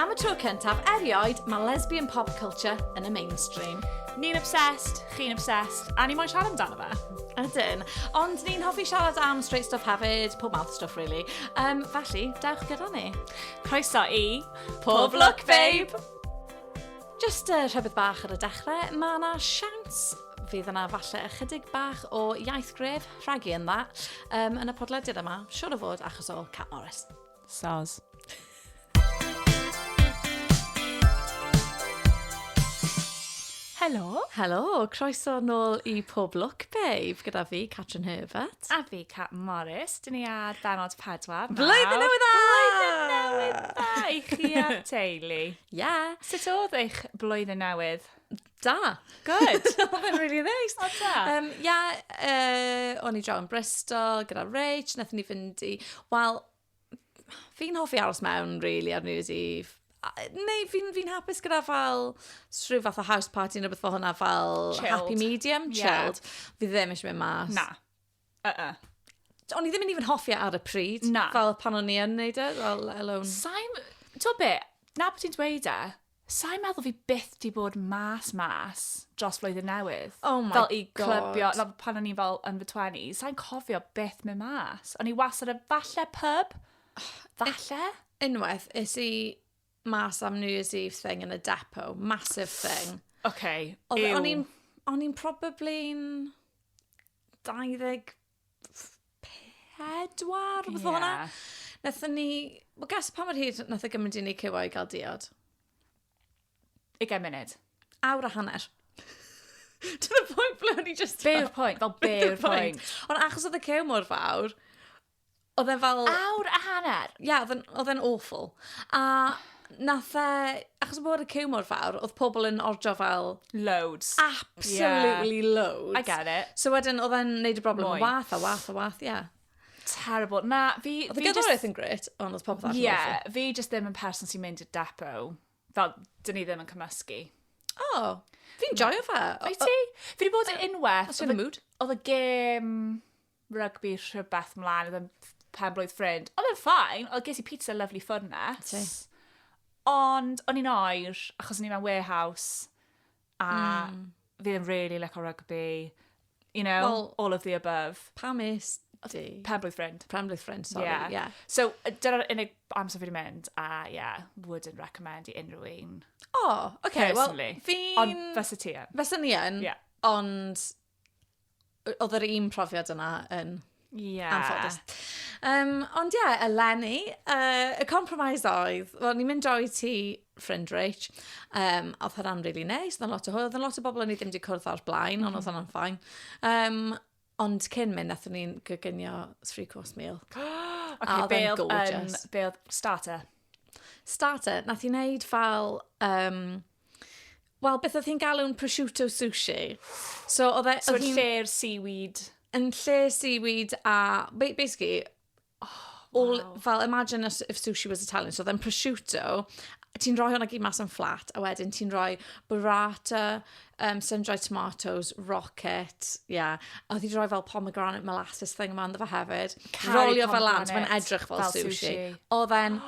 Am y tro cyntaf erioed, mae lesbian pop culture yn y mainstream. Ni'n obsessed, chi'n obsessed, a ni moyn siarad amdano fe. Ydyn. Ond ni'n hoffi siarad am straight stuff hefyd, pob mouth stuff really. Um, felly, dewch gyda ni. Croeso i... Pob lwc, babe! Jyst uh, rhywbeth bach ar y dechrau, mae yna siawns fydd yna falle ychydig bach o iaith gref, rhagu yn dda, um, yn y podlediad yma, siwr o fod achos o Cat Morris. Soz. Helo. Helo, croeso nôl i Pob Look Babe gyda fi, Catrin Herbert. A fi, Cat Morris. Dyn ni ar benod pedwar. Blwyddyn newydd dda! Blwyddyn newydd dda i chi a teulu. Ia! Sut oedd eich blwyddyn newydd? Da! Good! Oedd e'n rili neis! O da! Um, ia, uh, o'n i draw yn Bristol gyda Rach, nath ni fynd i... Wel, fi'n hoffi aros mewn, really, ar New Year's Eve. Neu fi'n fi hapus gyda fel rhyw fath o house party neu beth fel hwnna, fel chilled. happy medium, chilled. Yeah. Fi ddim eisiau mynd mas. Na. Uh-uh. O'n i ddim yn even hoffi e ar y pryd. Na. Fel pan o'n i yn neud e, fel let alone. Saim... Ti'n be, na bod ti'n dweud e, saim meddwl fi byth di bod mas mas dros flwyddyn newydd. Oh my fel i God. clybio, fel pan o'n i fel yn fy 20, sain cofio byth mynd mas. O'n i wastad yn falle pub, falle. Unwaith, is i mas am New Year's Eve thing yn y depot, massive thing. Okay, Oedd- ew. O'n i'n o'n i'n probably'n 24, rhywbeth fel hwnna. Nethon ni... Wel, gas pa mor hir nath o gymryd i ni cyfo i gael diod? Ugain munud. Awr a hanner. to the point ble o'n i just... Be yw'r pwynt? Fel, be yw'r pwynt? Ond achos oedd y cew mor fawr, Oedd e fel... Awr a hanner! Ie, yeah, oedd e'n awful. A nath e, achos bod y cyw mor fawr, oedd pobl yn ordro fel... Loads. Absolutely yeah. loads. I get it. So wedyn, oedd e'n neud y broblem yn wath a wath a wath, ie. Yeah. Terrible. Na, fi... Oedd y gerddoriaeth yn gret, ond oedd popeth allan. Ie, yeah, fi jyst ddim yn person sy'n mynd i'r depo. Fel, dyn ni ddim yn cymysgu. O, oh, fi'n joio fe. Fi ti? Fi wedi bod yn unwaith. Os yw'n y mood. Oedd y gêm... rygbi rhywbeth mlaen, oedd yn pen-blwydd ffrind. Oedd yn ffain, oedd ges i pizza lovely ffwrnes. Ti. Ond o'n i'n oer, achos o'n i mewn warehouse, a mm. fi ddim really like o rygbi. You know, well, all of the above. Pam is di? Pen-blwydd ffrind. Pen-blwydd ffrind, sorry, yeah. yeah. So, dyna'r unig amser fi wedi mynd, a yeah, wouldn't recommend i unrhyw un. Oh, okay, well, fi... Ond fysa ti yn. Fysa ni yn, yeah. ond oedd yr un profiad yna yn yeah. anffodus. Um, ond ie, yeah, eleni, uh, y compromise oedd, well, ni'n mynd droi ti ffrind Rich, um, oedd hwnna'n really neis, oedd lot o hwyl, oedd lot o bobl o'n i ddim wedi cwrdd o'r blaen, mm -hmm. ond oedd hwnna'n ffain. Um, ond cyn mynd, nath ni'n gygynnio three course meal. okay, a oedd gorgeous. Um, be oedd starter? Starter, nath i wneud fel um, Wel, beth oedd hi'n galw'n prosciutto sushi. So, oedd e... So, yn lle'r seaweed. Yn lle seaweed a... Basically, oh, all, wow. fel, imagine if sushi was Italian. So, oedd e'n prosciutto, ti'n rhoi hwnna gyd mas yn fflat, a wedyn ti'n rhoi burrata, um, sun-dried tomatoes, rocket, yeah. A oedd hi'n rhoi fel pomegranate molasses thing yma ynddo fe hefyd. Rolio fel lan, mae'n edrych fel, fel sushi. sushi. Oedd e'n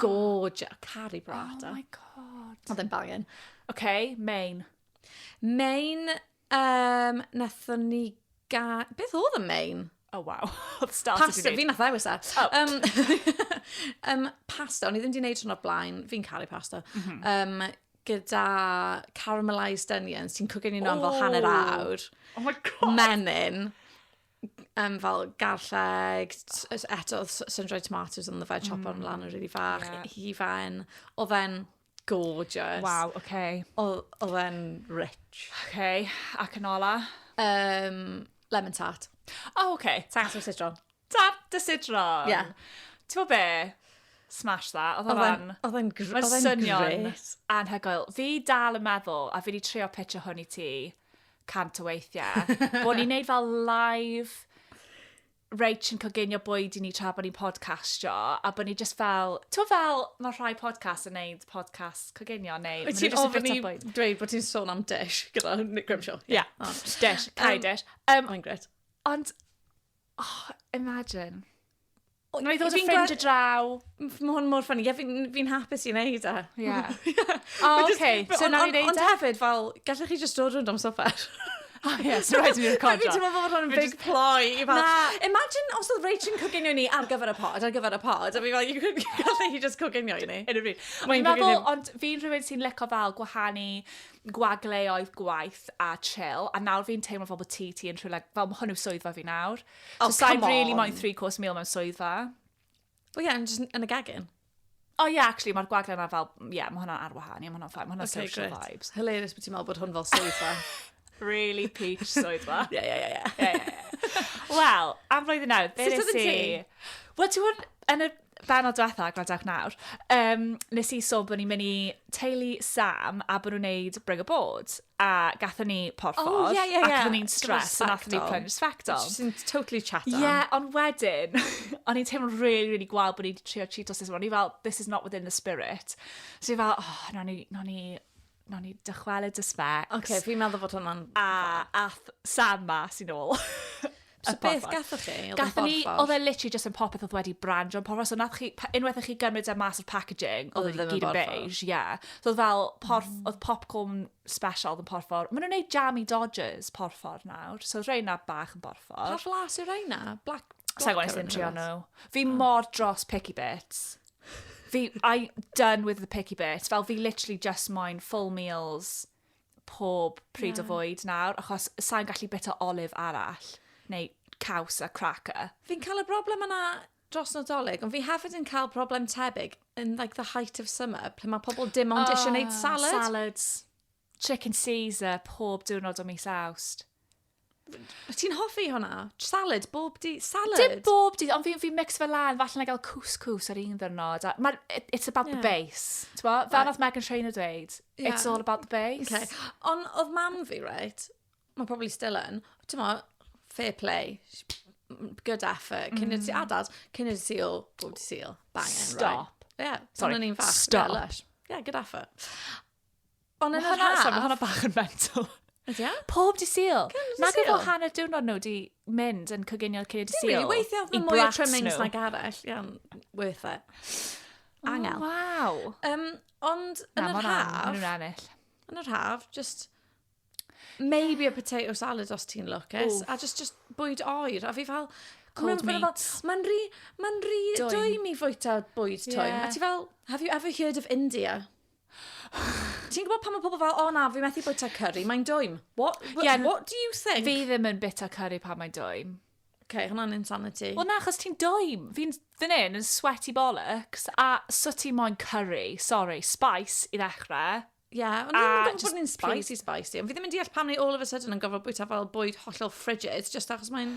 gorgeous. Cari burrata. Oh my god. God. Oedd e'n bangin. Oce, okay, Main. Main, um, nathon ni ga... Beth oedd y Main? Oh, wow. Oedd start Pasta, fi nath ddewis e. Oh. Um, um, pasta, o'n i ddim di wneud hwn o'r blaen. Fi'n caru pasta. Mm -hmm. um, gyda caramelised onions, ti'n cwgyn i'n o'n fel hanner awr. Oh my god! Menyn. um, fel garlleg, eto sun-dried tomatoes on the veg chop mm. lan yn rili fach, yeah. hi fain. O fe'n gorgeous. Wow, oce. Okay. O fe'n rich. Oce, okay. ac yn ola? Um, lemon tart. Oh, oce. Okay. Tart o sidron. Tart dy sidron? Yeah. Ti'n be? smash that. Oedd o'n... Oedd o'n gr... Oedd o'n swnio'n anhygoel. Fi dal yn meddwl, a fi wedi trio pitch o hwn i ti, cant o weithiau, bod ni'n neud fel live Rach yn coginio bwyd i ni tra bod ni'n podcastio, a bod ni just fel, to fel, mae rhai podcast yn neud podcast coginio, neu... Wyt ti'n ofyn i dweud bod ti'n sôn am dish gyda Nick Grimshaw? Ie, yeah. oh. dish, cael um, dish. Um, Mae'n gret. Ond, oh, imagine. Wna i ddod â ffrind o draw. Mae hwn mor ffynnu. Ie, fi'n hapus i wneud e. Ie. O, oce. So wna i wneud e? Ond hefyd, fel, gallech chi just dod rwy'n dom sofer. O, ie, so rhaid i ni'n recordio. Hefyd, ti'n meddwl bod hwn yn big ploy. Imagine os oedd Rachel yn coginio ni ar gyfer y pod, ar gyfer y pod. A fi fel, gallech chi just coginio i ni. Yn y bryd. Fi'n meddwl, ond fi'n rhywun sy'n leco fel gwahanu gwagleoedd gwaith a chill. A nawr fi'n teimlo fel bod ti, ti yn rhywle, fel mae hwn yw swyddfa fi nawr. Oh, so sa'i really moyn three course meal mewn swyddfa. Wel ie, yn y gegin. O oh, ie, yeah, actually, mae'r gwagle yna fel, ie, yeah, mae hwnna'n ar wahân, ie, yeah, mae hwnna'n ffain, mae hwnna'n okay, social great. vibes. Hilarious bod ti'n meddwl bod hwn fel swyddfa. really peach swyddfa. Ie, ie, ie. Wel, am flwyddyn nawr, beth nes i? Wel, ti'n gwybod, yn y benod diwetha, gwrandewch nawr, um, nes i sôn bod ni'n mynd i teulu Sam a bod nhw'n neud Bring a Board. A gatho ni porffor. Oh, ie, ie, ie. A gatho ni'n stres. A gatho ni plunge sbectol. Just yn totally chat on. Ie, yeah, ond wedyn, o'n i'n teimlo'n really, really gwal bod ni'n trio Cheetos. O'n i fel, this is not within the spirit. So i fel, oh, no ni, no ni Wnawn ni dychwelyd y specs. Oce, okay, fi'n meddwl fod hwnna'n... A ath Sam mas i'n ôl. So beth gathoch chi? Gathoch ni, oedd e literally just yn popeth oedd wedi brand o'n porfa. So nath chi, unwaith chi gymryd e mas o'r packaging, oedd e gyd yn beige, ie. Yeah. So oedd fel, porf, mm. oedd popcorn special oedd yn porfor. Maen nhw'n neud jammy dodgers porfor nawr. So oedd reina bach yn porfor. Pa flas yw reina? Black, black Sa'n gwneud sy'n trio nhw. Fi oh. mor dros picky bits. Fi, I done with the picky bit. Fel fi literally just moyn full meals pob pryd yeah. o fwyd nawr, achos sa'n gallu bita olive arall, neu caws a cracker. Fi'n cael y broblem yna dros Nadolig, ond fi hefyd yn cael broblem tebyg in like the height of summer, lle mae pobl dim ond oh, eisiau gwneud ah, salad. Salads. Chicken Caesar pob diwrnod o mis Awst. Wyt ti'n hoffi hwnna? Salad, bob di... Salad? Dim bob dydd, ond fi'n fi mix fe lan, falle na gael couscous ar un ddyrnod. a Mae'r... it- It's about the Yeah. base. Ti'n bo? Fel Right. nath Megan Trainor dweud, Ie. it's all about the base. Okay. Ond oedd mam fi, right, mae probably still yn, ti'n mo, fair play, sh- m- good effort, cyn mm. ti adad, cyn i ti seal, bob ti seal, banging, right. Stop. Yeah, Sorry, Sorry, o'n i'n fach. stop. Yeah, lush. yeah, good effort. Ond yn yr haf... Mae hwnna bach yn mental. Ydy o? Pob di syl. Nag efo hanner diwrnod nhw di mynd yn coginio cyn y di syl. Weithio oedd mwy o trimmings nag arall. Iawn, worth it. Angel. Oh, wow. Um, ond yn yr haf... Na, ennill. Yn yr haf, just... Maybe a potato salad os ti'n lwcus. A just, just bwyd oer. A fi fel... Cold meat. Mae'n rhi... Mae'n rhi... Doim i fwyta bwyd toim. Yeah. A ti fel... Have you ever heard of India? Ti'n gwybod pan mae pobl fel, o na, fi methu bwyta curry, mae'n dwym. What, what, yeah, what do you think? Fi ddim yn bita curry pan mae'n dwym. Okay, hwnna'n insanity. Wel na, chos ti'n doem. Fi'n fyn hyn yn sweaty bollocks, a so ti moyn curry, sorry, spice i ddechrau. Ie, yeah, ond ddim yn gwybod bod ni'n spicy, spicy. Ond fi ddim yn deall pam ni all of a sudden yn gofod bwyta fel bwyd hollol frigid, just achos mae'n...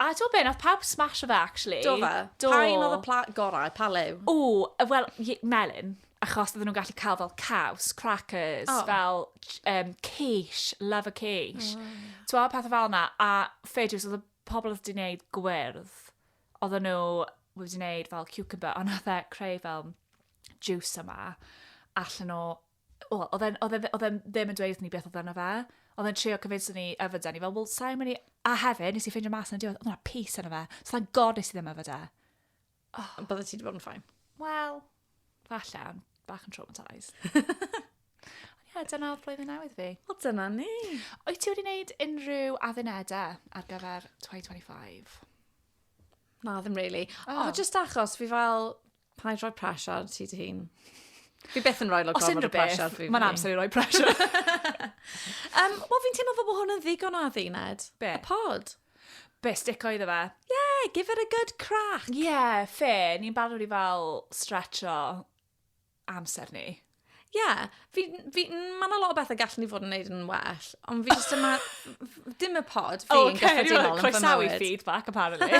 A t'o' be' nath pawb smasho fe actually. Do fe? Do. Pa un odd y pla- gorau? Pa liw? O, yy wel, ie, melyn, achos odden nw'n gallu ca'l fel caws, crackers... O. ...fel j- yym quiche, love a quiche. O. T'mo', pethe fel 'na, a fedrws, odd y pobol odd 'di neud gwyrdd, odden nw wedi neud fel ciwcymbyr, on' nath e creu fel jiws yma, allan o Wel, oedd e'n- oedd e ddi- oedd e'n ddim yn dweud wrthyn ni beth oedd yno fe. Oedd e'n trio convinso ni yfed e. O'n i fel, wel, sa i'n mynd i... A hefyd, nes i ffeindio mas yn y diwedd, oedd 'na pys yno fe. So thank God nes i ddim yfed e. Ond bydde ti wedi bod yn ffain. Wel, falle, ond bach yn traumatised. Ond ie, dyna oedd blwyddyn newydd fi. O, dyna ni. Wyt ti wedi wneud unrhyw addunedau ar gyfer 2025? Na, ddim really. O, O. just achos fi fel, Paid rhoi pressure ar ti dy hun. Fi beth yn rhoi lot gorfod o pressure ar fi. Mae'n amser i roi pressure. um, Wel, fi'n teimlo fod hwn yn ddigon o adduned. Be? Y pod. Be, stico iddo fe? Yeah, give it a good crack. Yeah, fe, ni'n barod i fel stretcho amser ni. Ie, yeah, fi, fi, mae yna lot o bethau gallen ni fod yn neud yn well, ond fi jyst yma, dim y pod, fi yn gyffredinol yn fy mywyd. Croesawi feedback, apparently.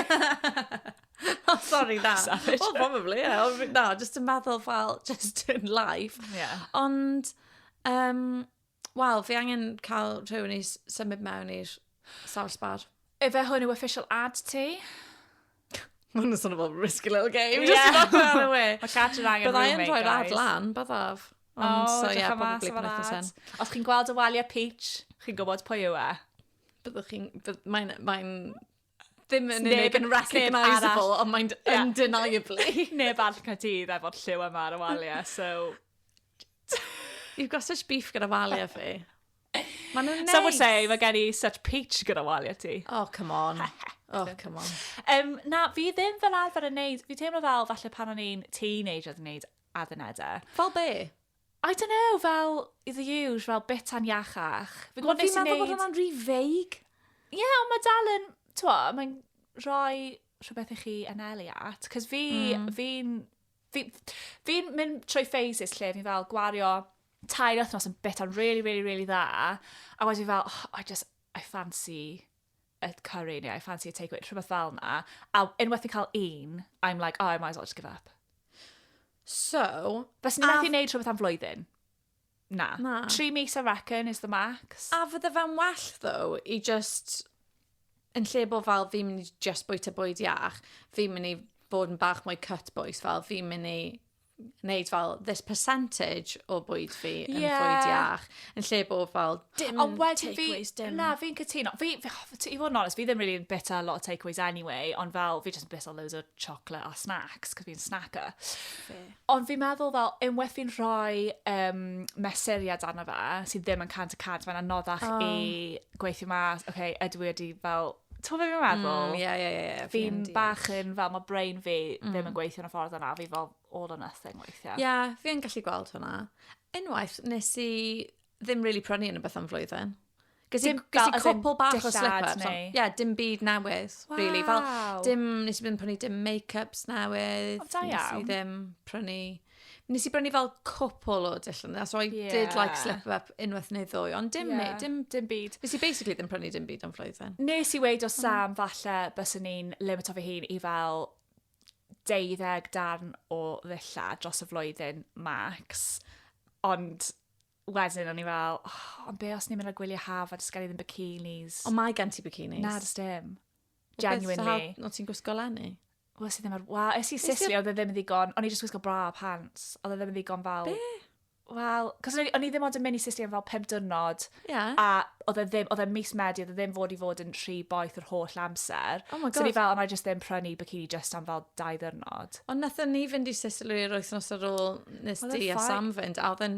oh, sorry, na. Savage. Well, probably, yeah. Or, na, jyst yn meddwl fel, just in life. Yeah. Ond, um, Wel, fi angen cael rhywun i symud mewn i'r sawll sbar. Efe hwn yw official ad ti. Mae'n nhw'n sôn fel risky little game. Ie. Mae cat yn angen rhywun, guys. Byddai'n rhoi'r ad lan, byddaf. O, so, yeah, probably pan eithaf sen. Os chi'n gweld y waliau peach, chi'n gwybod pwy yw e. Byddwch chi'n... Mae'n... Mae'n... ddim yn unig yn recognisable, ond mae'n yeah. undeniably. neb all Caerdydd efo'r lliw yma ar y waliau, so... You've got such beef gyda waliau fi. Mae nhw'n neis. Some would say, mae gen i such peach gyda waliau ti. Oh, come on. Oh, come on. Um, na, fi ddim fel arfer yn neud, fi teimlo fel falle pan o'n i'n teenager yn neud addunedau. Fel be? I don't know, fel, i the usual, fel bitan iachach. Fi'n gwybod nes i wneud... Fi'n meddwl bod hwnna'n rhy feig. Ie, yeah, ond mae dal yn, twa, mae'n rhoi rhywbeth i chi anelu at. Cos fi, mm. fi'n, fi'n fi mynd trwy phases lle fi'n fel gwario tair wythnos yn bitan really, really, really dda. A wedyn fel, oh, I just, I fancy a curry neu I fancy a takeaway, rhywbeth fel yna. A unwaith fi'n cael un, I'm like, oh, I might as well just give up. So... Fes ni methu wneud rhywbeth am flwyddyn? Na. Na. Tri mis, I reckon, is the max. A fydde fe'n well, though, i just... Yn lle bod fel fi'n mynd i just bwyta bwyd iach, fi'n mynd i fod yn bach mwy cut boys, fel fi'n mynd i wneud fel this percentage o bwyd fi yn yeah. bwyd iach, yn lle bod fel dim Ond wedyn fi, dim. na, fi'n cytuno. Fi, fi, oh, i fod yn honest, fi ddim really yn bita a lot of takeaways anyway, ond fel fi jyst yn bita loads o chocolate a snacks, cos fi'n snacker. Fe. Ond fi'n meddwl fel, unwaith fi'n rhoi um, mesuriad arno fe, sydd ddim yn cant y cant, mae'n anoddach oh. i gweithio mas, okay, ydw i wedi fel Ti'n gwybod beth fi'n meddwl? Mm, ie, ie, ie, ie, fi'n Fi'n deall. bach yn fel, mae brain fi ddim yn Mm. gweithio yn y ffordd yna, fi fel all or nothing weithiau. Ie, yeah, fi yn gallu gweld hwnna. Unwaith, nes i ddim really prynu yn y beth am flwyddyn. Ges i, Dim ges fel, i as in, cwpl bach o dillad slip-ups. neu- ond- Ie, dim byd newydd, really. Fel, Waw. dim, nes i ddim prynu dim make-ups newydd. O, da Nes i iawn. ddim prynu Nes i brynu fel cwpl o dillon, so I yeah. did like slip up unwaith neu ddwy, ond dim, yeah. dim, dim byd. Nes i basically ddim prynu dim byd am flwyddyn. Nes i weid o Sam, falle bys ni'n limito fy hun i fel deuddeg darn o ddilla dros y flwyddyn max. Ond wedyn o'n i fel, oh, ond be os ni'n mynd â gwylio haf a dysgael i ddim bikinis? Ond mae gen ti bikinis. Na, dys dim. Genuinely. Beth sy'n hawdd ti'n gwisgo lenni? Wel, sydd ddim ar... Wa, es i Sicily, oedd e ddim yn ddigon. O'n i jyst gwisgo bra a pants. Oedd e ddim yn ddigon fel... Be? Wel, cos o'n i ddim ond yn mynd i Sicily am fel pum dynod. Yeah. A oedd e ddim, oedd e mis Medi, oedd e ddim fod i fod yn rhy boeth yr holl amser. Oh my god. So ni fel, ond I just ddim prynu bikini just am fel dau ddynod. Ond nath ni fynd i Sicily yr wythnos ar ôl nes di a Sam fynd, a oedd e'n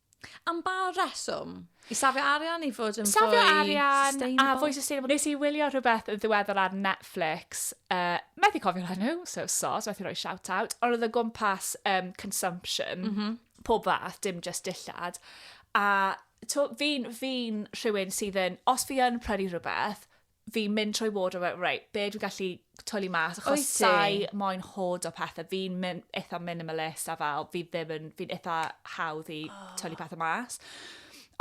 Am ba reswm? I safio arian, i fod yn fwy sustainable? Safio arian a fwy sustainable. Nes i wylio rhywbeth yn ddiweddar ar Netflix, uh, methu cofio'r enw, so sos, methu rhoi shout out, ond oedd o gwmpas um, consumption, mm -hmm. pob fath, dim just dillad. A fi'n fi rhywun sydd yn, os fi yn prynu rhywbeth, fi'n mynd trwy ward o fel, reit, be dwi'n gallu twli mas, achos Wyt ti? sai moyn hod o pethau, fi'n mynd eitha minimalist a fel, fi ddim yn, fi'n eitha hawdd i oh. twli pethau mas.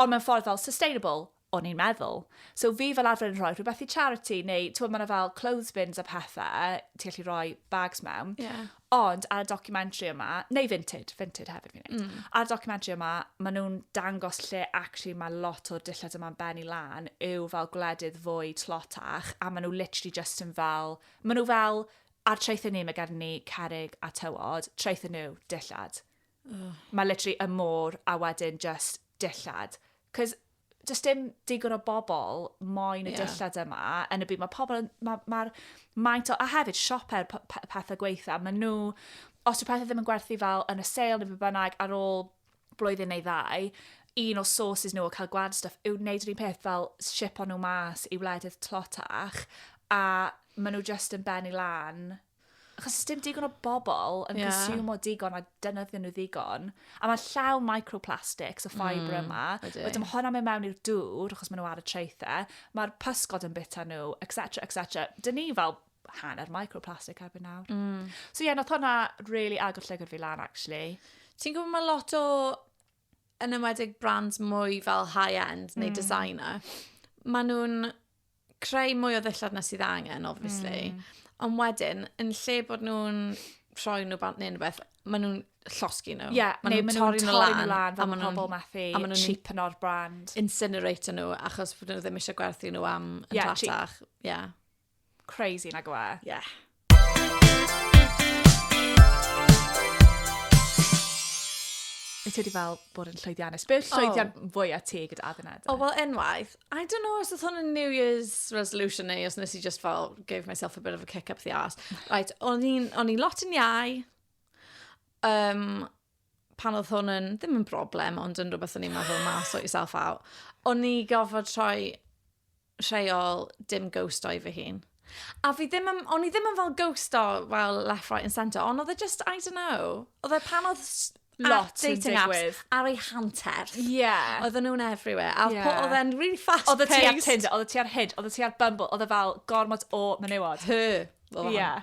Ond mewn ffordd fel sustainable, o'n i'n meddwl. So fi fel arfer yn rhoi rhywbeth i charity, neu ti'n meddwl, mae yna fel clothes bins a pethau, ti'n gallu rhoi bags mewn. Yeah. Ond ar y documentary yma, neu Vinted, Vinted hefyd fi'n neud. Mm. Ar y documentary yma, maen nhw'n dangos lle actually mae lot o'r dillad yma'n benni lan yw fel gwledydd fwy tlotach a maen nhw literally just yn fel, maen nhw fel, ar traethau ni mae gen ni cerig a tywod, traethau nhw, dillad. Oh. Mae literally y môr a wedyn just dillad. Cos does dim digon o bobl moyn y yeah. dillad yma yn y byd. Mae pobl, mae'r ma, ma maint o, a hefyd sioper pethau gweitha, mae nhw, os yw pethau ddim yn gwerthu fel yn y sale neu beth bynnag ar ôl blwyddyn neu ddau, un o sources nhw o cael gwad stuff yw wneud yr un peth fel ship o'n nhw mas i wledydd tlotach a maen nhw just yn benni lan achos does dim digon o bobl yn yeah. consumo digon a defnyddio nhw ddigon. A mae llawn microplastics, y ffibre mm, yma. Wedyn mae hwnna'n mynd mewn i'r dŵr, achos maen nhw ar y traethau. Mae'r pysgod yn bita nhw, etc, etc. Dyn ni fel hanner microplastic erbyn nawr. Mm. So ie, yeah, nath hwnna really agor llygr fi lan, actually. Ti'n gwybod mae lot o yn ymwedig brands mwy fel high-end neu mm. designer, maen nhw'n creu mwy o ddillad na sydd angen, obviously. Mm. Ond wedyn, yn lle bod nhw'n rhoi nhw bant neu'n rhywbeth, maen nhw'n llosgi nhw. Ie, yeah, neu maen nhw'n torri nhw lan, nhw lan a maen nhw'n pobl methu a maen nhw'n cheap yn o'r brand. Incinerator nhw, achos bod nhw ddim eisiau gwerthu nhw am yn yeah, dratach. Ie. Yeah. Crazy, nag yw e? Yeah. Wyt ti wedi fel bod yn llwyddiannus? Be yw'r oh. llwyddiant oh. fwyaf ti gyda adduned? O, oh, wel, enwaith. I don't know os oedd hwn yn New Year's resolution neu os nes i just fel gave myself a bit of a kick up the arse. Right, o'n i'n lot yn iau. Um, pan oedd hwn yn, ddim yn broblem, ond yn rhywbeth o'n i'n meddwl, ma, sort yourself out. O'n i gofod troi rheol dim ghost o'i fy hun. A fi ddim yn, o'n i ddim yn fel ghost o, fel left, right and centre, ond oedd e just, I don't know, oedd e pan oedd lot yn digwydd. Ar ei hanter. Yeah. Oedden nhw'n everywhere. A yeah. oedd e'n really fast Oedd ti ar Tinder, oedd ti ar Hid, oedd ti ar Bumble, oedd e fel gormod o menywod. Hy. Oedd yeah.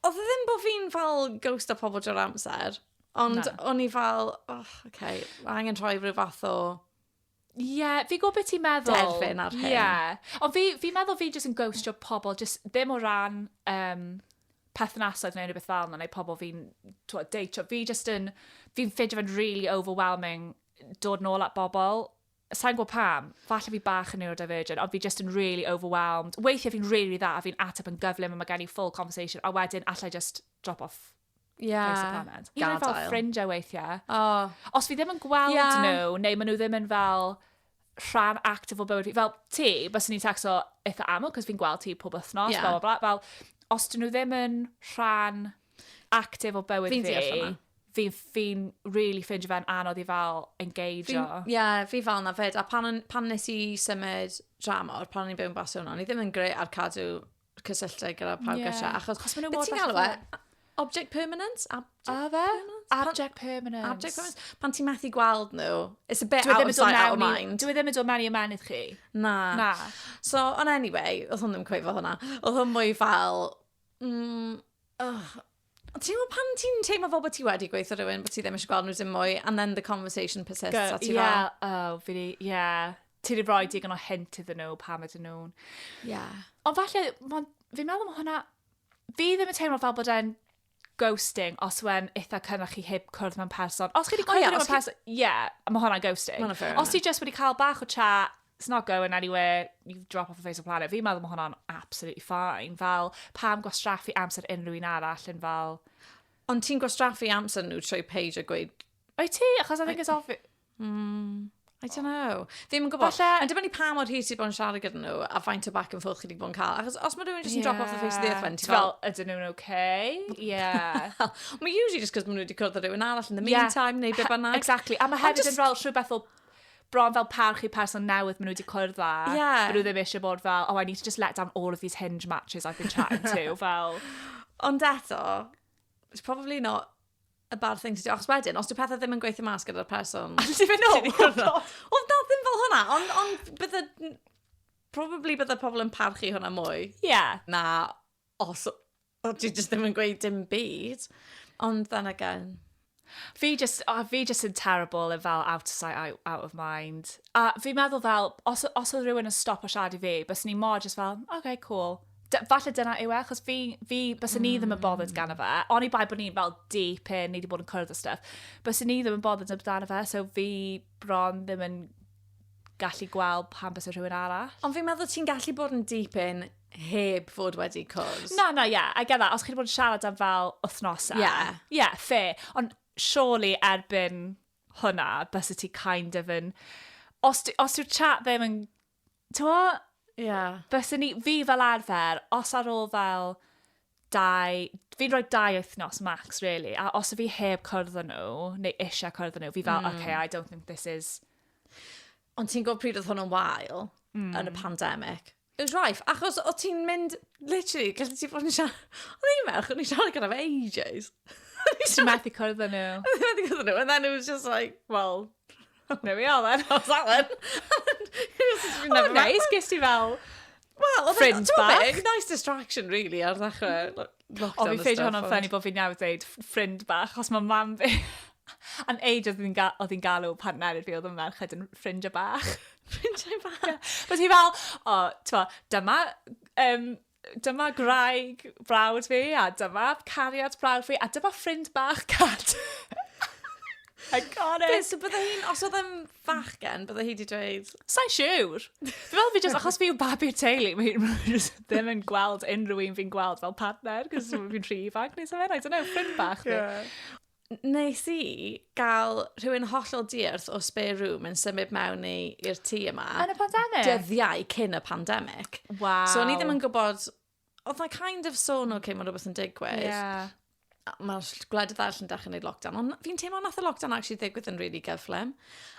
Oedd e ddim bod fi'n fel ghost o pobl drwy'r amser, ond Na. o'n i fel, oh, okay, mae angen rhoi rhyw fath o... Ie, yeah, fi gwybod beth ti'n meddwl. Derfyn ar hyn. Ie. Yeah. Ond fi, fi meddwl fi jyst yn ghostio pobl, jyst ddim o ran um, perthnasoedd neu rhywbeth fel yna, neu pobl fi'n deitio. Fi jyst yn, fi'n ffeindio fe'n really overwhelming dod nôl at bobl Sa i'n gwybod pam, falle fi bach yn neurodivergent, ond fi just yn really overwhelmed. Weithiau fi'n really dda, a fi'n ateb yn gyflym, a mae gen i full conversation, a wedyn allai just drop off yeah. place the planet. Hyd yn fel ffrindiau weithiau. Oh. Os fi ddim yn gweld yeah. nhw, neu maen nhw ddim yn fel rhan actif o bywyd fi. Fel ti, bys ni'n tacso eitha aml, cos fi'n gweld ti pob wythnos, yeah. bla, bla, bla. Fel, os dyn nhw ddim yn rhan active o bywyd fi. Fi'n deall hwnna. Fi, fi'n really ffindio fe'n anodd i fel engageio. Ie, yeah, fi fel na fyd. A pan, pan nes i symud dramor, pan o'n i'n byw yn Barcelona, o'n i ddim yn greu ar cadw cysylltau gyda pawb yeah. gyda. Achos, achos maen nhw mor... ti'n galw e? Object permanent? Object a fe? Permanent? Object permanent. Object permanent. Pan ti'n methu gweld nhw, it's a bit dwi out of sight, out of mind. Dwi ddim yn dod mewn i ymenydd chi. Na. Na. So, on anyway, oedd hwn ddim cweifo hwnna. Oedd hwn mwy fel, Mm, ugh. Ti'n gwybod pan ti'n teimlo fel bod ti wedi gweithio rhywun, bod ti ddim eisiau gweld nhw dim mwy, and then the conversation persists, Go, a ti yeah, fel... Ie, oh, fi di, ie. Yeah. Ti di roi digon o hint iddyn nhw pam ydyn nhw'n... Ie. Yeah. Ond falle, fi'n meddwl mae hwnna... Fi ddim yn teimlo fel bod e'n ghosting os yw'n eitha cynradd chi heb cwrdd mewn person. Os chi wedi cwrdd mewn person, ie, mae hwnna'n ghosting. Os ti just wedi cael bach o chat, it's not going anywhere, you drop off the face of the planet. Fi'n meddwl mae hwnna'n absolutely fine. Fel, pam gwastraffu amser unrhyw un arall yn fel... Ond ti'n gwastraffu amser nhw trwy page a gweud... O'i ti? Achos I think it's obvious... Mm, I don't know. Fi'n yn gwybod. Falle... Yn dibynnu pa mor hir ti bod yn siarad gyda nhw a faint o back and forth chi wedi bod yn cael. Achos os mae rhywun jyst yn yeah. drop off the face of the earth fan, ti'n fel... Ydyn nhw'n okay? Yeah. mae usually just cos maen nhw wedi cwrdd â rhywun arall in the meantime, yeah. neu beth bynnag. Exactly. A mae hefyd yn fel rhywbeth o bron fel parch i person newydd maen nhw wedi cwrdd â. Ie. Maen nhw ddim eisiau bod fel, oh, I need to just let down all of these hinge matches I've been chatting to, fel... Ond eto, it's probably not a bad thing to do. Achos wedyn, os dyw pethau ddim yn gweithio mas gyda'r person... A ti'n mynd nôl? Oedd na ddim fel hwnna, ond on, bydde... Probably bydde pobl yn parchu hwnna mwy. Ie. Yeah. Na, Os o ti jyst ddim yn gweud dim byd. Ond then again. Fi just, oh, fi just yn terrible yn fel out of sight, out, out of mind. A fi meddwl fel, os, os oedd rhywun yn stop o siarad i fi, bys ni mor just fel, okay, cool. D falle dyna yw e, achos fi, fi bys mm. ni ddim yn bothered gan o fe. Ond i bai bod ni'n fel deep in, ni wedi bod yn cwrdd o stuff. Bys ni ddim yn bothered amdano fe, so fi bron ddim yn gallu gweld pan bys rhywun arall. Ond fi'n meddwl ti'n gallu bod yn deep in heb fod wedi cwrs. Na, na, ie, yeah, I get that. Os chi wedi bod yn siarad am fel wythnosau. Ie. Yeah. Ie, yeah, fe. Ond surely erbyn hwnna, bys y ti kind of yn... Os, os yw'r chat ddim yn... Ti'n mo? Ie. Yeah. Bys ni, fi fel arfer, os ar ôl fel dau, fi'n rhoi dau wythnos max, really. A os y fi heb cwrdd â nhw, neu eisiau cwrdd â nhw, fi fel, mm. okay, I don't think this is... Ond ti'n gwybod pryd oedd hwn yn wael mm. yn y hmm. pandemic? It was rife, achos o ti'n mynd, literally, gallu ti fod yn siarad... Oedd i'n merch, o'n i'n siarad gyda fe ages. Ti'n methu cwrdd â nhw. Ti'n methu cwrdd â nhw, and then it was just like, well, there we are then, I was that then. oh, nice, ges ti fel Wel, oedd e'n... Nice distraction, really, ar ddechrau. O, fi ffeid hwnna'n ffynnu bod fi'n iawn dweud ffrind bach, os mae mam fi... An age oedd hi'n ga galw pan merid fi oedd yn merched yn ffrind y bach. ffrind y bach? Bod hi fel, o, twa, dyma, um, dyma graig brawd fi, a dyma cariad brawd fi, a dyma ffrind bach cad. I got it. Beth, so bydde hi'n, os oedd yn fachgen, bydde hi wedi dweud... Sa'n siwr. Dwi'n meddwl fi just, achos fi yw babi'r teulu, mae ddim yn gweld unrhyw un fi'n gweld fel partner, cos fi'n rhi ifanc neu sef I don't know, ffrind bach. Yeah. Nes i gael rhywun hollol diarth o spare room yn symud mewn i'r tŷ yma. Yn y pandemig? Dyddiau cyn y pandemig. Wow. So o'n i ddim yn gwybod oedd na kind of sôn, oce, okay, mae rhywbeth yn digwydd. Yeah. Mae'r gwledydd arall yn dechrau gwneud lockdown, ond fi'n teimlo nath y lockdown actually ddigwydd yn really gyflym.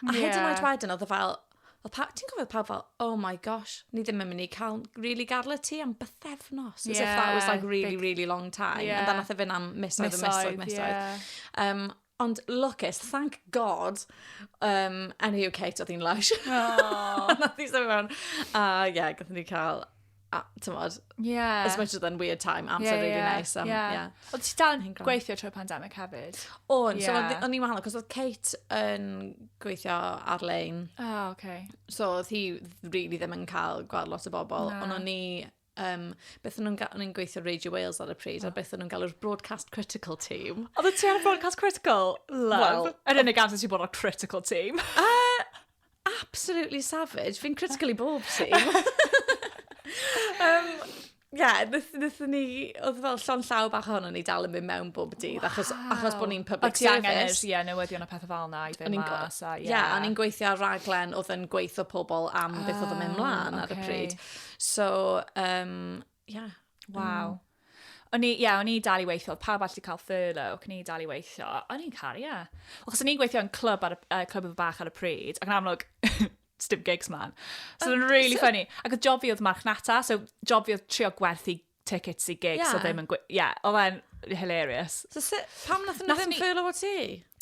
A yeah. hyd yn oed wedyn, oedd y fel, ti'n gofio pawb fel, oh my gosh, ni ddim yn mynd i cael really gadl y tŷ am bythefnos. Yeah, as if that was like really, big... really long time. Yeah. And then nath e fynd am misoedd, misoedd, misoedd. misoedd. Yeah. Um, Ond lwcus, thank God, um, yn y UK doedd hi'n lush. Oh. Nath i symud mewn. A ie, yeah, gathen ni cael, a, tymod, yeah. as much as then weird time, amser yeah, really yeah, nice. Um, yeah. yeah. Oedd ti dal yn gweithio trwy pandemic hefyd? O'n, yeah. so o'n i'n wahanol, cos oedd Kate yn gweithio ar-lein. Oh, okay. So oedd hi really ddim yn cael gweld lot o bobl, no. ond o'n i um, beth nhw'n gael, nhw'n gweithio Radio Wales ar y pryd, oh. a beth nhw'n galw'r Broadcast Critical Team. Oedd y ti ar Broadcast Critical? Love. Yr unig amser ti'n bod ar Critical Team. uh, absolutely savage. Fi'n critically bob team. um, yeah, nethon ni, oedd fel llon llaw bach ohono ni dal yn mynd mewn bob dydd, wow. achos, achos bod ni'n public service. Ac angen ie, newyddion a pethau fel yna i ddim mas. Ie, yeah. yeah, a ni'n gweithio ar raglen oedd yn gweithio pobl am beth oedd yn mynd ah, mlaen ar y pryd. So, um, yeah. Waw. Mm. O'n i, ie, yeah, o'n i dal i weithio, pawb allu cael furlough, o'n i dal i weithio, o'n i'n caru, ie. Yeah. Achos o'n i'n gweithio yn clwb ar y, uh, clwb efo bach ar y pryd, ac yn amlwg, dim gigs man. So, oh, o'n really so... funny. Ac oedd job fi oedd marchnata, so job fi oedd trio gwerthu tickets i gigs yeah. o ddim yn gweithio. Ie, yeah, oedd e'n hilarious. So, si, pam nath nhw ddim ffeilo o ti?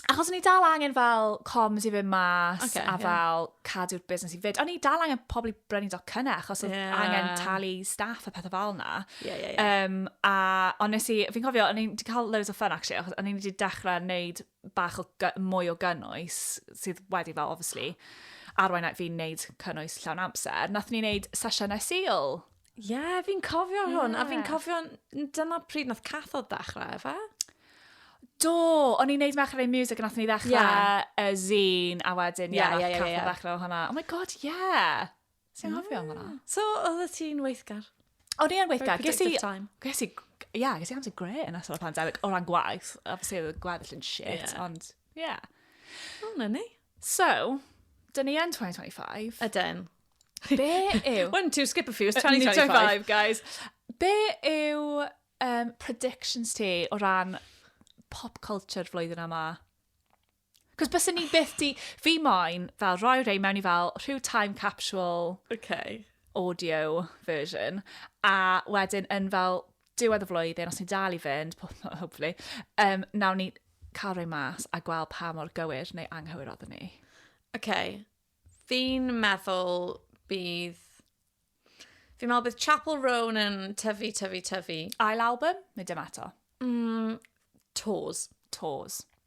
Achos ni dal angen fel coms i fy mas okay, a fel yeah. cadw'r busnes i fyd. O'n i dal angen pobl i brynu do cynna achos oedd yeah. angen talu staff a pethau fel na. Yeah, yeah, yeah. Um, a ond nes i, fi'n cofio, o'n i'n cael loads o fun actually, achos o'n i'n wedi dechrau wneud bach o gy- mwy o gynnwys, sydd wedi fel, obviously, arwain at fi'n neud cynnwys llawn amser. Nath ni neud sesiynau sil. Ie, yeah, fi'n cofio hwn, yeah. a fi'n cofio, dyna pryd nath cathod ddechrau, efe? Do, o'n i'n neud Merched Ein Music yn athyn ni ddechrau yeah. y zine, a wedyn, ie, yeah, yeah, yeah, yeah, yeah. ddechrau o hwnna. Oh my god, ie! Yeah. Ti'n hofio am hwnna? So, oedd ti'n weithgar? O'n i yn weithgar. Ges i... Ges i... Ie, yeah, ges i amser gre yn ystod y pandemig o ran gwaith. Obviously, oedd y gweddill yn shit, yeah. ond... Ie. Yeah. O, na ni. So, dyn ni yn 2025. Ydyn. Be yw... One, two, skip a few, it's 2025. 2025, guys. Be yw um, predictions ti o ran pop culture flwyddyn yma? Cos byswn ni byth di... Fi moyn fel rhoi rhein mewn i fel rhyw time capsule... Oce. ...audio version, a wedyn yn fel diwedd y flwyddyn, os ni'n dal i fynd, po- ho- hopefully, yym, wnawn ni cael rhoi mas a gweld pa mor gywir neu anghywir oedden ni. Oce. Fi'n meddwl bydd... Fi'n meddwl bydd Chappell Roan yn tyfu, tyfu, tyfu. Ail album? Neu dim eto? Mm, tours. Tours.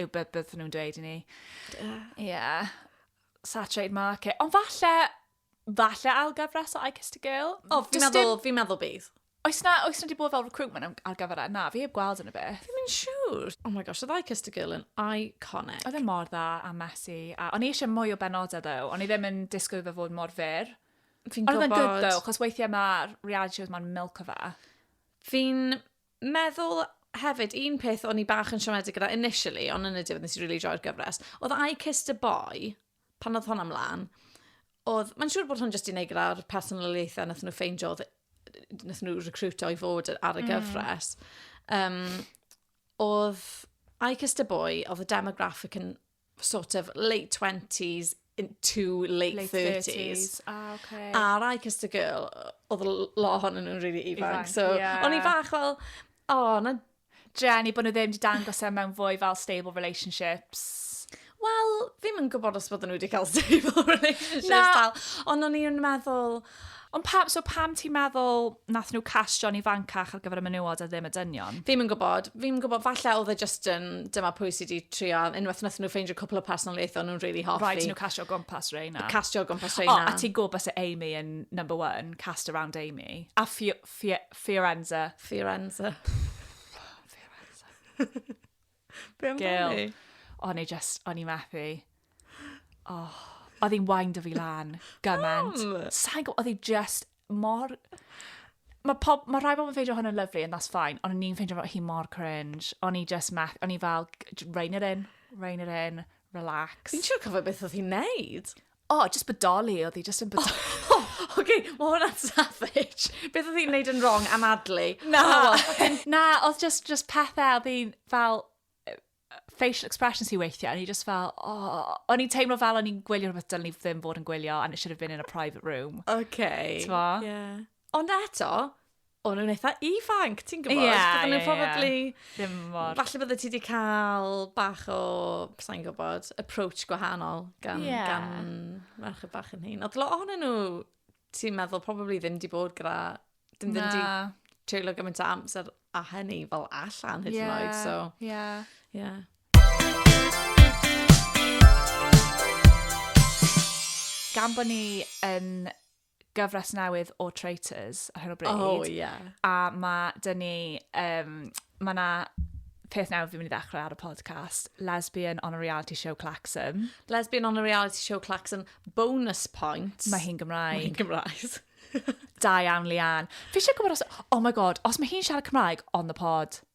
yw beth beth nhw'n dweud i ni. Ie. Yeah. Saturated market. Ond falle, falle ail gyfres o I Kissed a Girl. O, fi'n meddwl, fi'n meddwl bydd. Oes na, oes na di bod fel recruitment ar gyfer e? Na, fi heb gweld yn y beth. Fi'n mynd siŵr. Oh my gosh, oedd I Kissed a Girl yn iconic. Oedd e mor dda a messy. A o'n i eisiau mwy o benodau ddo. O'n i ddim yn disgwyl fe fod mor fyr. Fi'n gwybod. Oedd e'n gwybod. Oedd e'n gwybod, chos weithiau mae'r reality shows mae'n milk o fe. Fi'n meddwl hefyd, un peth o'n i bach yn siomedig gyda initially, ond yn y diwedd nes i really joio'r gyfres, oedd I Kissed a Boy, pan oedd hwn am lan, oedd, mae'n siŵr bod hwn jyst i wneud gyda'r personoliaethau nath nhw ffeindio, nath nhw recruitio i fod ar y mm. gyfres. Mm. Um, oedd I Kissed a Boy, oedd y demographic yn sort of late 20s into late, late 30s. 30s. Ah, okay. Ar I Kissed a Girl, oedd lot hon nhw'n really ifanc. ifanc so, yeah. o'n i fach fel, o, oh, na... Jenny, bod nhw ddim wedi dangos e mewn fwy fel stable relationships. Wel, fi'n mynd gwybod os bod nhw wedi cael stable relationships. Na. Ond o'n i'n meddwl, Ond pam, so pam ti'n meddwl nath nhw castio'n ifancach ar gyfer y menywod a ddim y dynion? Fi'm yn gwybod. Fi'm yn gwybod, falle oedd e just yn, dyma pwy sydd wedi trio, unwaith nath nhw ffeindio cwpl o personoliaethau nhw'n really hoffi. Rhaid nhw castio gwmpas Reina. Castio gwmpas Reina. O, a ti'n gwybod bys Amy yn number one, cast around Amy. A Fiorenza. Fiorenza. Fiorenza. Be amdani? O'n i just, o'n i methu. Oh, oedd hi'n wain dy fi lan, gymaint. Sa'n gwybod, oedd hi just mor... Mae pob... Mae rhai bobl yn ffeindio hwn yn lyflu, and that's fine. Ond o'n i'n ffeindio hi mor cringe. O'n i just meth... O'n i fel, rein it in, rein it in, relax. Fi'n siŵr cofio beth oedd hi'n neud. O, oh, just bodoli oedd hi, just yn bodoli. Oh, oh, Oce, okay, mae hwnna'n savage. Beth oedd hi'n neud yn wrong am adlu? Na. Oh, na, oedd just, just pethau oedd hi'n fel facial expressions hi weithiau, a ni just fel, oh, o'n i'n teimlo fel o'n i'n gwylio rhywbeth dylwn ni ddim fod yn gwylio, and it should have been in a private room. Okay. Twa? Yeah. Ond eto, o'n nhw'n eitha ifanc, ti'n gwybod? Ie, Bydden nhw'n ie, ie. probably... Ddim mor... Falle bydde ti wedi cael bach o, sa'n gwybod, approach gwahanol gan, Ie. gan merched bach yn hyn. Oedd lot ohonyn nhw, ti'n meddwl, probably ddim wedi bod gyda... Dim ddim wedi Na. treulio gymaint o amser a hynny fel allan hyd yn oed, so... Ie, ie. Ie. Gan bod ni yn gyfres newydd o Traitors ar hyn o bryd. Oh, ie. Yeah. A mae dyn ni, um, mae na peth newydd fi'n mynd i ddechrau ar y podcast, Lesbian on a Reality Show Claxon. Lesbian on a Reality Show Claxon, bonus point. Mae hi'n Gymraeg. Mae hi'n Gymraeg. da iawn, Lian. Fi eisiau gwybod os... Oh my god, os mae hi'n siarad Cymraeg on the pod.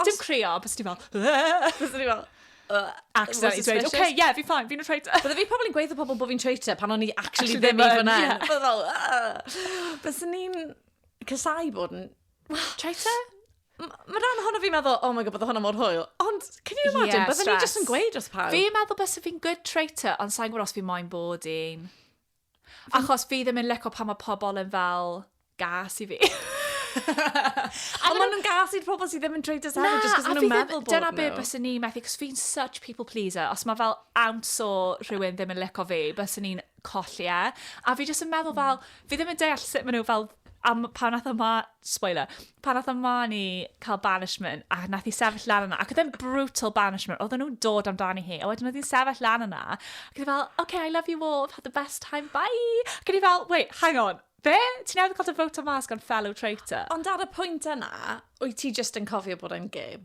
Os... Dim crio, bys ti fel... Bys ti fel... Accidentally dweud, oce, okay, ie, yeah, fi'n ffain, fi'n traitor. Bydde fi probably yn gweithio pobl bod fi'n traitor pan o'n i actually ddim i fyna. Bydde fel, bys ni'n cysau bod yn... Traitor? Mae rhan ohono fi'n meddwl, oh my god, bydde hwnna mor hwyl. Ond, can you imagine, yeah, bydde ni jyst yn gweud wrth pawb. Fi'n meddwl bys fi'n good traitor, ond sa'n gwybod os fi moyn bod i'n... Achos fi ddim yn lico pan mae pobl yn fel gas i fi. a maen nhw'n gas i'r pobl sydd ddim yn dweud dyseddau, jyst cos maen nhw'n meddwl bod nhw. Dyna beth bys ni'n methu, cos fi'n such people pleaser. Os mae fel ounce o rhywun ddim yn lico fi, bys ni'n colli e. A fi jyst yn meddwl fel, fi ddim yn deall sut maen nhw fel A m- pan nath y ma... Spoiler. Pan nath y Marnie cael banishment, a nath i sefyll lan yna, ac oedd e'n brutal banishment, oedden nhw'n dod amdani hi, a wedyn oedd hi'n sefyll lan yna, ac oedd hi fel, OK, I love you all, I've had the best time, bye! Ac oedd hi fel, wait, hang on, be? Ti newydd cael dy fowtio mas gan fellow traitor? Ond ar y pwynt yna, wyt ti jyst yn cofio bod e'n gêm?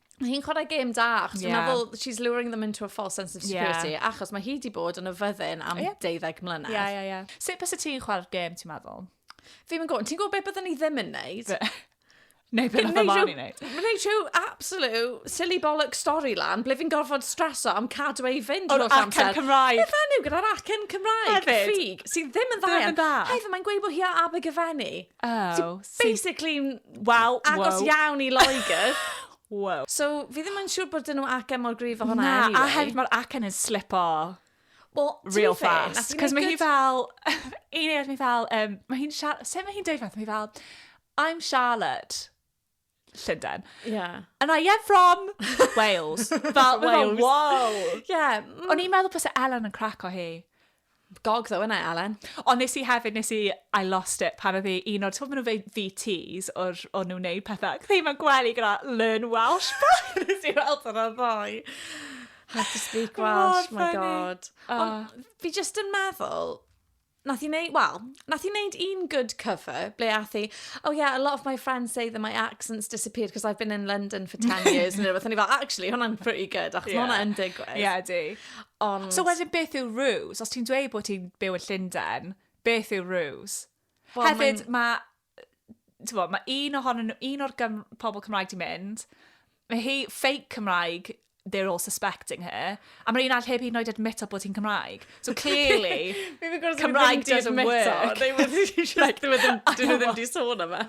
Mae hi'n chwarae gêm da, achos yeah. fel, she's luring them into a false sense of security, yeah. achos mae hi di bod yn y fyddin am yeah. 12 mlynedd. Ie, yeah, ie, yeah, ie. Yeah. Sut bys y ti'n chwarae'r gêm, ti'n meddwl? Fi yn gwybod, ti'n gwybod beth byddwn ni ddim yn neud? Neu beth oedd ymlaen i wneud. Rhaid rhyw absolute silly bollock story lan, ble fi'n gorfod streso am cadw ei fynd o'r amser. Acen Cymraeg. Beth enw gyda'r acen Cymraeg? Hefyd. Ffug, sy'n ddim yn dda. Ddim yn dda. Hefyd, mae'n gweud bod hi a Abergyfenni. Oh, so... Basically, wel, agos wow. iawn i Loegr. wow. So, fi ddim yn siŵr bod dyn nhw acen mor gryf o hwnna Na, anyway. a hefyd mae'r acen yn slip o. Well, real fast. Cos mae hi fel... un eich mae fel... Um, mae hi'n... Sut mae hi'n dweud fath? Mae hi fel... I'm Charlotte. Llundain. Yeah. And I am from Wales. Fel, Wales. Wow. Yeah. Mm. O'n i'n meddwl pwysau e Ellen yn crac o hi. Gog ddo yna, Ellen. Ond nes i hefyd, nes i, I lost it pan oedd hi un o'r, ti'n meddwl nhw'n VTs o'r, o'n nhw'n neud pethau. Ac ddim yn gwely gyda learn Welsh. nes i weld yna ddoi. How to speak Welsh, oh, my god. Uh. Ond fi just yn meddwl, Nath hi neud, wel, nath hi neud un good cover ble ath hi, oh yeah, a lot of my friends say that my accent's disappeared because I've been in London for 10 years neu rhywbeth. O'n i fel, actually, hwnna'n pretty good, achos yeah. hwnna'n digwydd. Ie, yeah, di. Ond... So wedyn beth yw ruse? Os ti'n dweud bod ti'n byw yn Llundain, beth yw ruse? Well, Hefyd, mae Tybod, mae un ohonyn nhw, un o'r gym, pobl Cymraeg di mynd, mae hi fake Cymraeg, they're all suspecting her. A mae'r un all heb hyd yn oed admito bod hi'n Cymraeg. So clearly, Cymraeg doesn't work. They were just, like, they were ddim, dyn nhw ddim di sôn yma.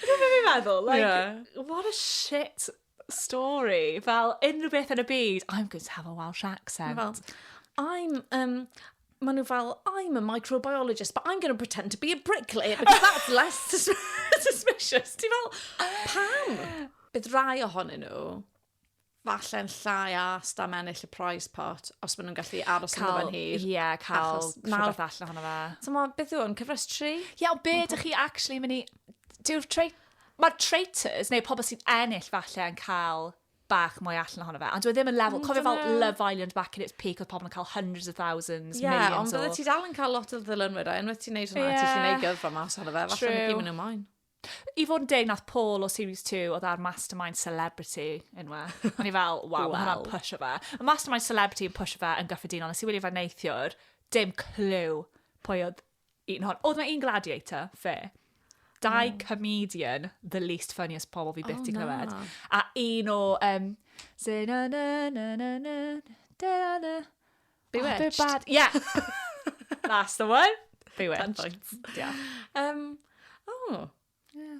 Dwi'n meddwl, like, yeah. what a shit stori, fel unrhyw beth yn y byd, I'm going to have a Welsh accent. Fel, I'm, um, maen nhw fel, I'm a microbiologist, but I'm going to pretend to be a bricklayer, because that's less sus suspicious. Ti fel, pam? Bydd rai ohonyn nhw, falle'n llai as am ennill y prize pot, os maen nhw'n gallu aros yn fan hir. Ie, yeah, cael rhywbeth allan ohono fe. So, beth yw hwn, cyfres tri? Ie, yeah, be ydych chi actually mynd i... Dyw'r Mae'r traitors, neu pobl sy'n ennill falle yn cael bach mwy allan ohono fe, ond dwi e ddim yn level, mm, cofio fel Love Island back in its peak, oedd pobl yn cael hundreds of thousands, yeah, millions o... Ie, ond bydde ti dal yn cael lot o ddilynwyr, a unwaith ti'n neud hwnna, yeah. ti'n neud gyfro mas ohono fe, falle na gymryd nhw moyn. I fod yn deg, nath Paul o Series 2 oedd ar Mastermind Celebrity unwa. O'n i fel, waw, wow. hwnna'n push o fe. Mae Mastermind Celebrity yn push o fe yn gyffredinol, nes i wylio fe neithiwr, dim clyw pwy oedd Un hon. Oedd mae un gladiator, fe. Dau comedian, the least funniest pobl fi byth oh, di clywed. A un o... Um, Say na na na na na da na na. Bewitched. Oh, yeah. That's the one. Bewitched. Ten points. Yeah. Um, oh. Yeah.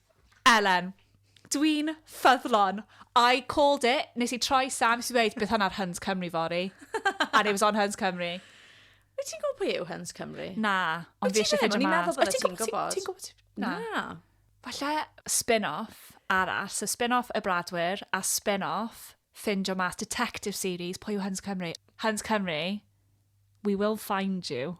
Elen, Dwi'n ffyddlon. I called it. Nes i troi Sam, nes i ddweud, bydd hwn ar Huns Cymru fory. And it was on Huns Cymru. Wyt ti'n gwybod pwy yw Huns Cymru? Na, ond fi eisiau ffeindio mas. Wyt ti'n meddwl bod ti'n gwybod? Ti'n gwybod? Na. na. Falle spin-off arall. So spin-off y Bradwyr a spin-off ffindio mas detective series pwy yw Huns Cymru. Huns Cymru, we will find you.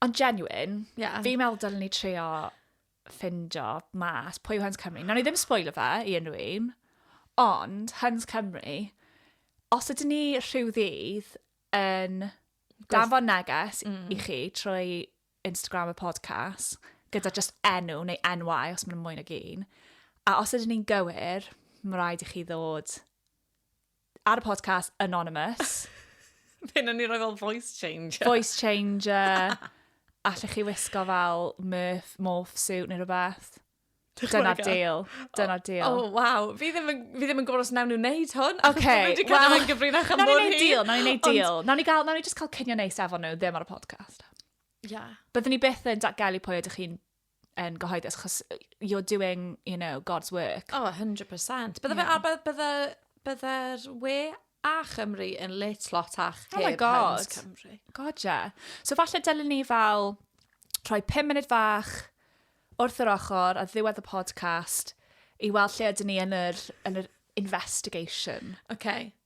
Ond genuine, yeah. fi'n meddwl dylen ni trio ffindio mas pwy yw Huns Cymru. Nawr ni ddim spoiler fe i unrhyw un, ond Huns Cymru, os ydyn ni rhyw ddydd yn danfon neges mm. i chi trwy Instagram y podcast, gyda just enw neu enwau os mae'n mwy nag un, a os ydyn ni'n gywir, mae rhaid i chi ddod ar y podcast Anonymous. Fe na ni roi fel voice changer. Voice changer. Allech chi wisgo fel murf, morph suit neu rhywbeth. Dyna'r deal. Dyna'r deal. O, oh, waw. Fi ddim yn, fi ddim yn gwybod os nawn nhw'n neud hwn. Oce. Okay. Fi wedi cael yn gyfrinach am mor hyn. Nawn ni'n deal, nawn ni'n neud deal. Nawn ni gael, nawn ni just cael cynio neis efo nhw ddim ar y podcast. Ie. Yeah. Byddwn ni byth yn datgelu pwy ydych chi'n yn gyhoeddus, chos you're doing, you know, God's work. Oh, 100%. Bydde fe, a bydde, bydde'r we a Chymru yn lit lot ach oh heb Heinz Cymru. God, yeah. So falle dylwn ni fel rhoi 5 munud fach wrth yr ochr a ddiwedd y podcast i weld lle ydyn ni yn yr, yn yr investigation. OK.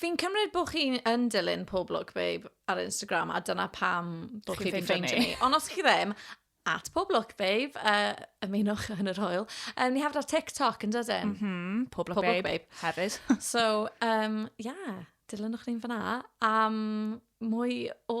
Fi'n cymryd bod chi yn dilyn Pob Look Babe ar Instagram a dyna pam bod chi wedi ffeindio ni. Ond os chi ddim, at Pob Look Babe, uh, ymunwch yn yr hoel. Um, ni hefyd ar TikTok yn dydyn? Mm -hmm. Pob Look Pob Babe. Babe. Hefyd. so, um, yeah, dilynwch ni'n fyna am mwy o